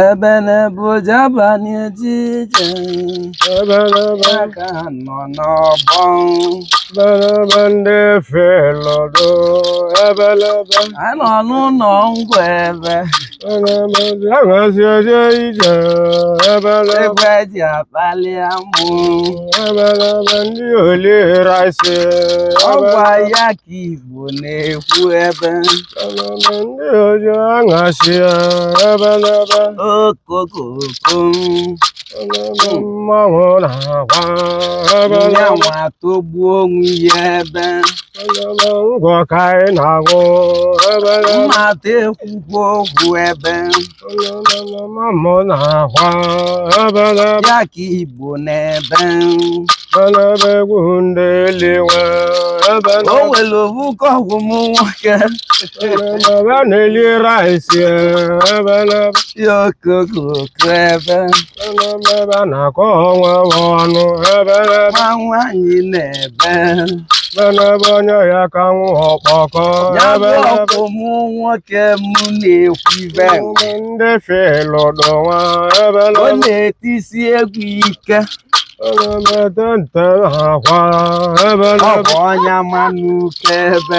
Ebele bụ jaba na-eje ije aka nọ n'ọgbọ ebelebe ndị efe lọdụ ebelebe a nọ n'ụlọ ngwa ebe ebelebe aṅasị eje ije ebelebe egbe ji akpali amụ ebelebe ndị oli rice ọgwa ya ka ibe Igbo na-ekwu ebe ndị oji aṅasị ya ebelebe okokoko mmanwụ na-agwa ebe ya n'ebe nwa togbuo onwe ya ebe ngwọ ka anyị na-aṅụ ebelebe mmadụ ekwukwo okwu ebe ya ka Igbo na-ebe ebelebe egwu ndị eluigwe ebelebe o nwere owu ka ọkwụ m nwoke ebelebe na-eli rice ebelebe ya okokoko ebe ebe a na-akọ ọnwa ọnụ ebe nwa nwaanyị na-ebe ebelebe onye ya ka nwụ ọkpọkọ ya bụ ọkwụ mụ nwoke m na-ekwu ibe ndị filụdụ nwa ebe ọ na-etisi egwu ike ebe nte akwa ebe ọkụ ọnya manụ ebe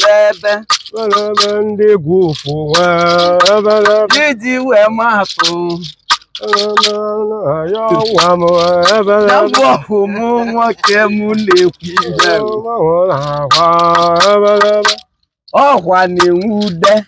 n'ebe ebe ndị egwu ụfụ iji wee maatụ ya ọnwa m ebe na mgbe ọhụ m nwoke m na-ekwu ihe ọkwa na-enwe ude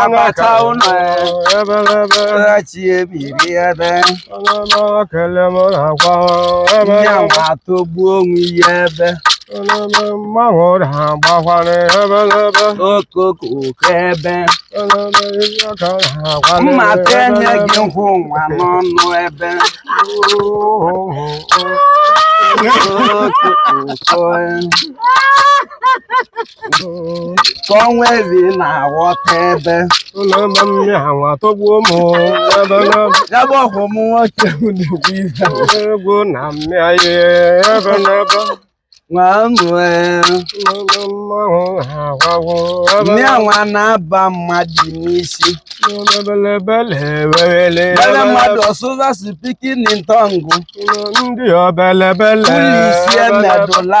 agbata ụlọ ebe chi ebiri ebe ya atọgbuo onwe ya ebe mmanwụ na-agbakwara ebelebe okokoko ebe mma ka enye gị nkwụ nwa n'ọnụ ebe okoko ka ọnwa ezi na-aghọta ebe ụlọma mmịa nwa tọgbuo m ebelebe ya bụ ọkwụ m nwoke m na-ekwu ife egwu na mmịa ebelebe nwa mụ mmanwụ ha agwawo ebe mmịa nwa na-aba mmadụ n'isi ebelebele ewele bele mmadụ ọ sụza speaking in tongue ndị obelebele police emedụla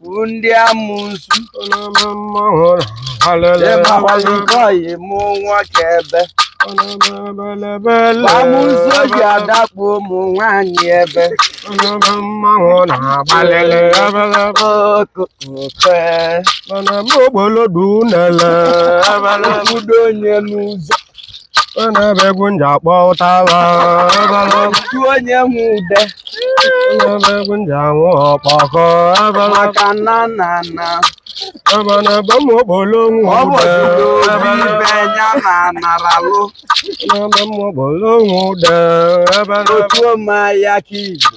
na-ekwu ndị amusu ịmakwazi nke ọyị mụ nwoke ebe amusu oji adakpu ụmụ nwaanyị ebe okwe obodo onye n'ụzọ na-ebe egwu nji akpọ ụtaba otu onye nwe ude na-ebe egwu nji anwụ ọkpọkọ maka na na na ebelebe ụmụ okpolo nwe ọ bụ ude ebe ibe ya na naralụ na-ebe ụmụ okpolo nwe ude ebelebe otu ụmụ ya ka igbo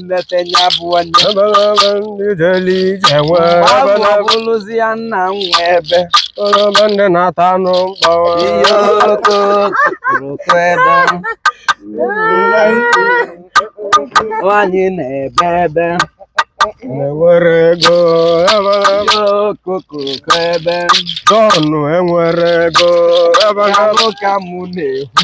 nleta ya bụ onye ebelebe ndị jere ije nwe ebe na abụlụzi ya nna m nwe ebe ebe ndị na-ata anụ mkpọ. ihe okooko ebe nwanyị na-ebe ebe enwere ego ebelebe. ihe okooko ebe Jọn enwere ego ebelebe. ya bụ ka mụ na-ekwu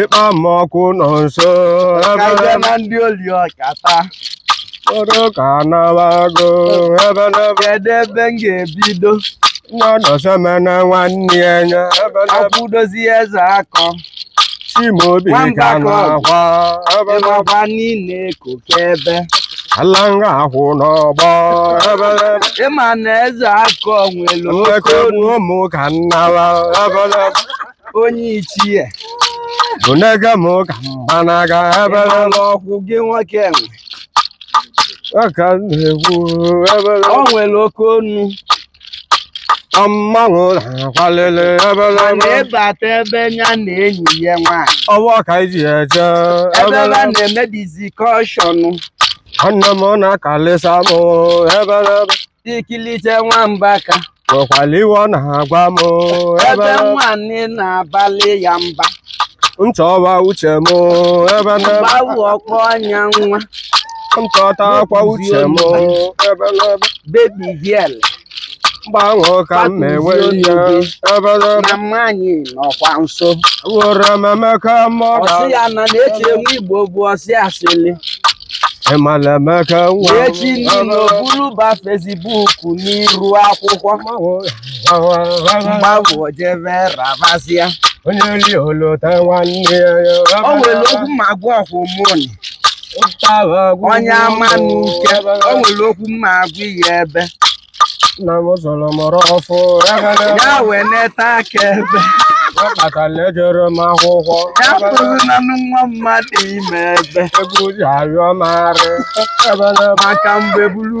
ịkpa m ọkụ nọ nso ebe na ndị oli ọkata kpọrọ ka nabago ebelebe kedu ebe m ga-ebido nọdọsemena nwanne ya nya ebelebe akwụdozi eze akọ Chimaobi ka na-akwa ebelebe ị makwa niile koke ebe alanga akwụ n'ọgbọ ebelebe ị ma na eze akọ nwere oke ekegbu ụmụ ka nnala ebelebe onye ichie onege m ka m gbanaga ebelebe ị mala ọkwụ gị nwoke enwe aka n'egwu ebelebe o nwere oke ọnụ mmanwụ na-akwalịlị ebelebe ịbata ebe ya na enyi ya nwaanyị ọwa ka iji ya eje ebe a na-eme discussion nwanne m na-akalịsa m ebe ikilite nwamba ka nwekwara ihe ọ na-agwa m ebe nwaanyị na-abalị ya mba nchọwa uche m ebelebe gbawu ọkpọ anya nwa nchọta akwa uche m ebelebe baby girl mgbanwe ka m na-enwe ihe ebelebe na mmanyị nọkwa nso were m Emeka mọ ọsị ya na na-eche enwe igbo bụ ọsị asịlị ị mala Emeka nwa echi niile o buru ba Facebook n'iru akwụkwọ mgbagwụ jebe rabasịa onye rie o lota nwanne ya o nwere okwu m ga-agwa ọkwụ mụnị onye Amanuke o nwere okwu m ga-agwa ya ebe nna m zụrụ mụrụ ọfụ ya wee neta aka ebe ọ kpatara ejere m akwụkwọ ya bụrụ na nwa mmadụ ime ebe egwu ji arịọ m arị maka mgbe buru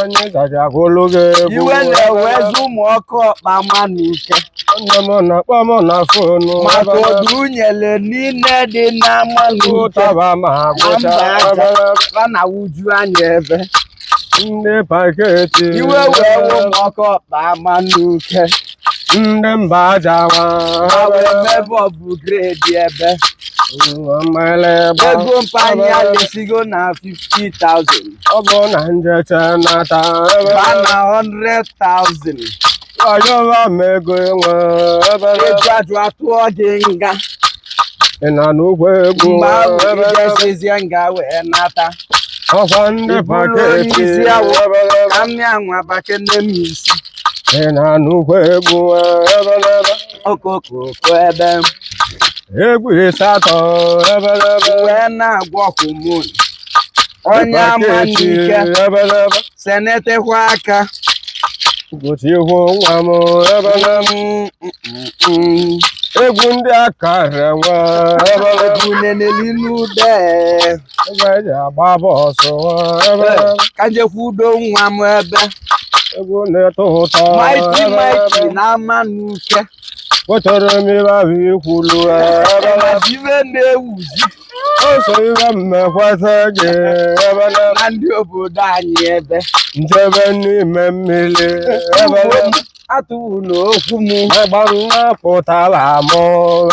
onye ga-eji agụlụ gị egwu iwe na-ewezi ụmụ ọkụ ọkpa Amanuke nne m na-akpọ m na phone maka ọdụ unyele niile dị n'Amanuke ụtaba ma na agụcha mba aja obere fa na wuju anya ebe ndị paketi iwe wee wụ ụmụ ọkụ ọkpa Amanuke ndị mba ajawa ha wee mebe ọ bụ grade ebe ego mpanye alesigo na 50,000 ọ bụ na m jechaa nata ba na 100,000 ọyọwa m ego enwe ebe eji ajụ atụọ gị nga ị na-anụkwa egwu mgbe ahụ i jesizie nga wee nata ọkwa ndị paketi isi awụ ka mmịa nwa bakene m isi ị na-anụkwa egwu ebelebe okoko ebe egwu ịsatọ ebelebe wee na-agwa ọkụ mụ onye Amanuke ebelebe senetekwa aka ụbọchị ihu nwa m ebelebe egwu ndị aka renwe ebelebe egwu neneli n'ude ka njekwa udo nwa m ebe egwu na-eto ụtọ Mighty Mighty na Amanuke wetara m ihe ahụ i kwulu iwe na-ewuzi oso ihe m mekwata gị ebe na ndị obodo anyị ebe m jebe n'ime mmili ebe atụwụlụ okwu m agbarụ nwa pụtara m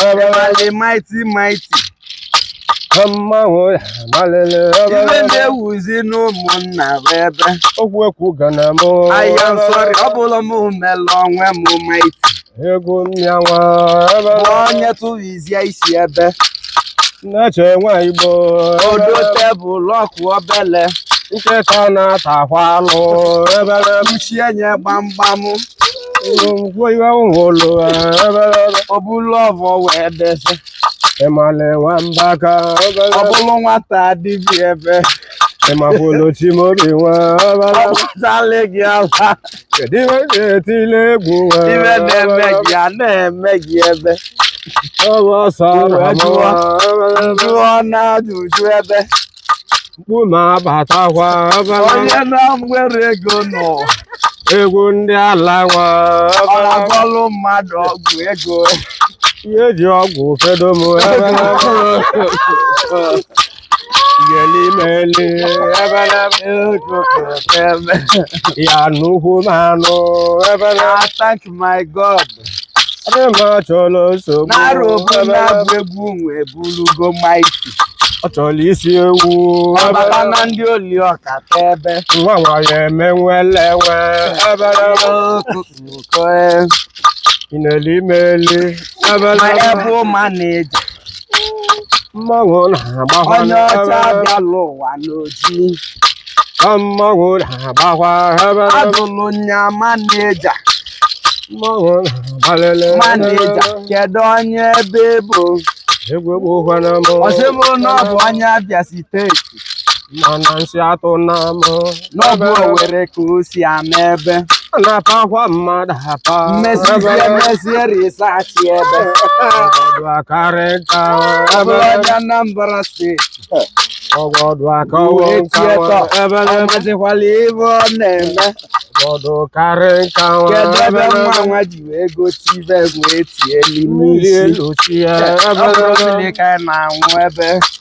ebewale Mighty Mighty mmanwụ ya malele iwe na-ewuzi n'ụmụnna bụ ebe okwu ekwu ga na m ahịa nsọrị ọ bụla m mele onwe m Mighty egwu mmịanwa ebe onye tụrụ bịa isi ebe nneche nwanyị igbo odo tebụl ọkụ obele nkịta na-atakwa alụ ebele mchie nye gbamgbam ngwo iwe ụlọ ebele o bulu ọvọ wee dese ị mala nwa Mbaka ebele ọ bụrụ nwata dibịa ebe ị makwụlụ Chimobi nwe ebele ọbụtali gị ala kedu ihe ị na-etile egwu wee ihe na-eme gị a na-eme gị ebe ọ bụ ọsọ Uwe jụọ. jụọ na ajụjụ ebe mkpu na-abatakwa onye na nwere ego nọ egwu ndị ala nwa ọ na-agọlụ mmadụ ọgwụ ego ihe eji ọgwụ fedo m gelimeli ebele ekokeme ya nnukwu mmanwụ ebele I thank my God. ebe m achọla nsogbu N'arụ obu na-agụ egwu nwe bulugo Mighty. ọ chọrọ isi ewu ọ bata na ndị oli ọkata ebe. nwa nwanyị eme nwele nwe ebele mmanwụ na-agbakwa onye ọcha abịala ụwa n'oji mmanwụ na-agbakwa adụlụ nya maneja mmanwụ na-agbalele maneja kedu onye ebe bụ ọ sị mụ na ọ bụ onye Abịa steeti mana nsị atụ na m na ọ bụ Owere ka o si ama ebe na-apakwa mmadụ apa mmezizi emezie risachi ebe ọgọdụ akarị nka ebe onye Anambra steeti ọgọdụ akawo nkawa ebe amazikwala ihe ọ na-eme ọgọdụ karị nkawa kedu ebe nwa nwa ji wee gote ibe wee tie n'ime isi elu chi ya ebe ka na-anwụ ebe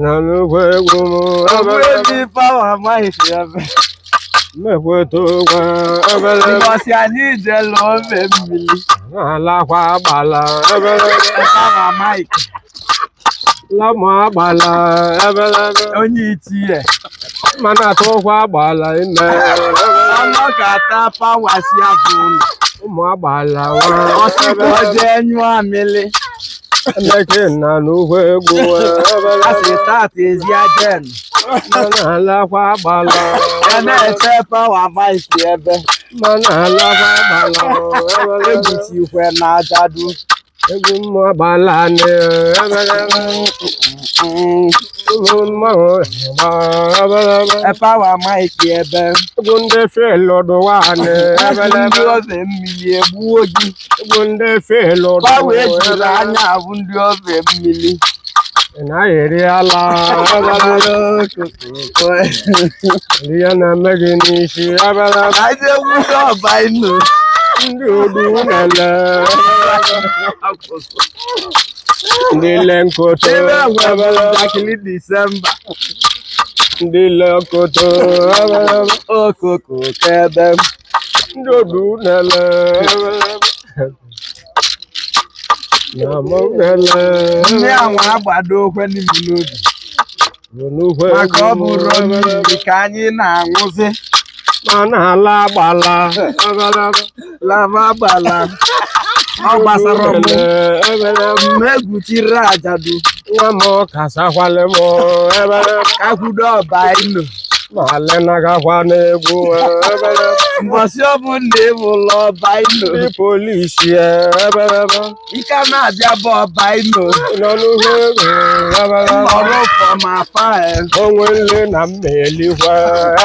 nanukwu egwu m obere ndị Power Mike si ya be mmekweta ụgwa obere ụbọchị anyị jelu ofe mmiri alakwa agbala obere Power Mike lamụ agbala obere onye itinye mana atụkwa agbala ime ọnụ ka ata pawa si afọ ụlọ ụmụ agbala ọ sịkwa jee nyụọ amịlị Emechenna n'ugwu egwu asị tata ezi ajen mana alakwa agbala ya na-eche Power Mike ebe mana alakwa agbala ebuchi ikwe na ajadu egwu mmụ agbala nị ụmụ mmanwụ agba Power Mike ebe egwu ndị fil ọdụwa nị ndị ofe mmiri egbuo gị bụ ndị efe lụrụ Gbawo ejula anya abụ ndị ofe mmiri. naghị eri ala ndị ya na-eme gị n'isi abala Anyị egwusi ọba inu. ndị odu nele ndị le nkoto Ebe enwe abala njakịrị Disemba. ndị le nkoto abala Okoko kebe. ndị odu na-ele na mụ na-ele ndị anwa agbado okwe n'ime n'obi n'ukwe maka ọ bụrụ mmiri ka anyị na-aṅụzi ma na-ala agbala lava agbala ọ gbasara m mgbe egwuchiri ajadu nwa m kasakwale m ebere ka kwudo ọba ilo Male na gakwa n'egwu ebelebe. Mbọsị ọbụna e bulu Ọbaino. Ndị polisi ebelebe. Ị ka na-abịa be Ọbaino. Nọ n'uhe egwu ebelebe. Ọrụ ụfọ ma afa e. O nwe nli na m ma-elikwa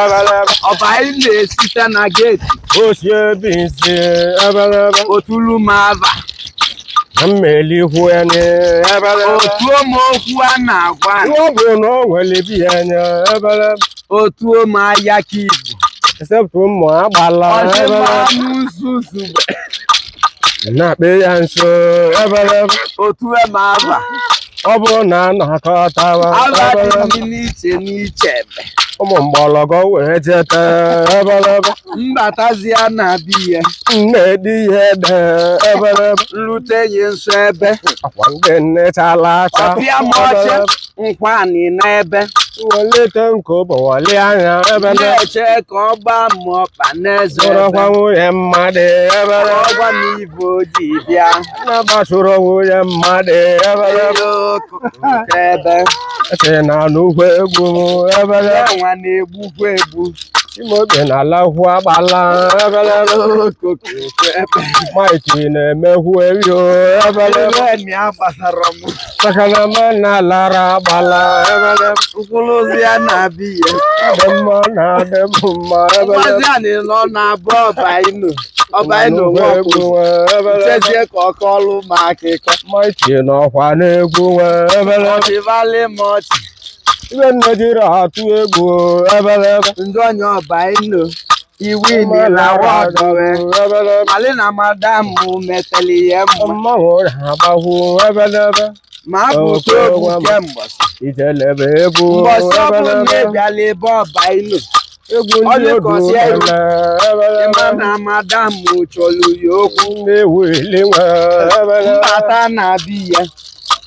ebelebe. Ọbaino esite na geeti. O sie binsi ebelebe. O tulu m ava. mmelihu enye ebere otu ụmụ okwu a na-agwa anyị. ọ bụ na o nwere bi enye ebere otu ụmụ ahịa ka igbo esepụ ụmụ agbala ọdịmma ebere n'ụzọ ozugbo na-akpị ya nso ebere otu ụmụ aba ọ bụrụ na a na-akọtawa Aba dị ebelebe ndị n'iche n'iche ebe. ụmụ mgbọlọgọ wee jeta ebelebe M batazia na be ye. nne dị ihe ede ebelebe M lute ye nso ebe. akwa ndị nne chala acha Ọ pịa m ọchị. Nkwa anị n'ebe. welite nke ụbọwali anya ebelebe Na-eche ka ọ gbaa m ọkpa n'eze ebe. bụrụkwa nwunye mmadụ ebelebe Ọ gwa m ive. ji bịa na-agbasoro onwe ya mmadụ ebe eke na n'ukwu egwu ebere nwa na-egbukwa egbu imobi na alahụ agbala ebere maiti na-emekwu erio ebere maka na ma na-alara agbala ebele m kpuluzia na be ye dị mma na-adị m mma ebele ụbọchị a na-ele ọ na be Ọbaino Ọbaino nwa ọkpụ ebele chezie ka ọ kọọlụ m akụkọ maiti n'ọkwa na-egwu nwe ebele ọ chịvalị m ọchị ive m jiri atụ egwu ebele njọ onye Ọbaino iwe nile wa ọ dọwe malị na madam mụ meteli ihe mma ma abụta egwu kemgbe ijelebe egwu mbọsị ọbụla ị bịala ebe Ọbaino ọ dịkọsị egwu ị ma na madam mụ chọrọ ya okwu m bata na be ya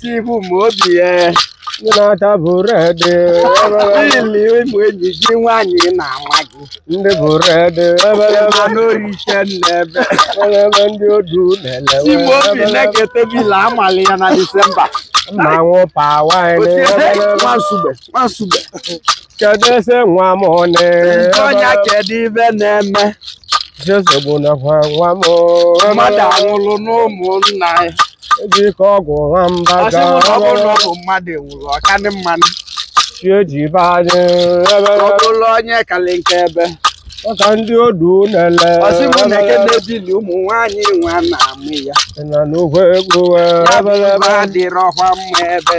Tibu m obi ya ndị na-ata bụrụ ede ili ụmụ enyi gị nwaanyị na-ama gị ndị bụrụ ede ma n'orike n'ebe ebe ndị odu na-elewe Tibu obi na-ekete bila amalị ya na Disemba mmanwụ pawa Nwansugbe Nwansugbe kedu ese nwa m one ọnya kedu ive na-eme nsogbu nakwa nwa m mmadụ anwụrụ n'ụmụnna ya eji ike ọgwụ nwa mba ọ sị mụ na ọ bụrụ na ọ bụ mmadụ nwụrụ ọkanị mmanụ chi eji be anyị ebe ọ bụrụ onye kalị nke ebe maka ndị odu na-ele ọ sị m na eke na-ebili ụmụ nwaanyị nwa na-amụ ya na n'ugwu egwu ya bụ ebe adịrọkwa mma ebe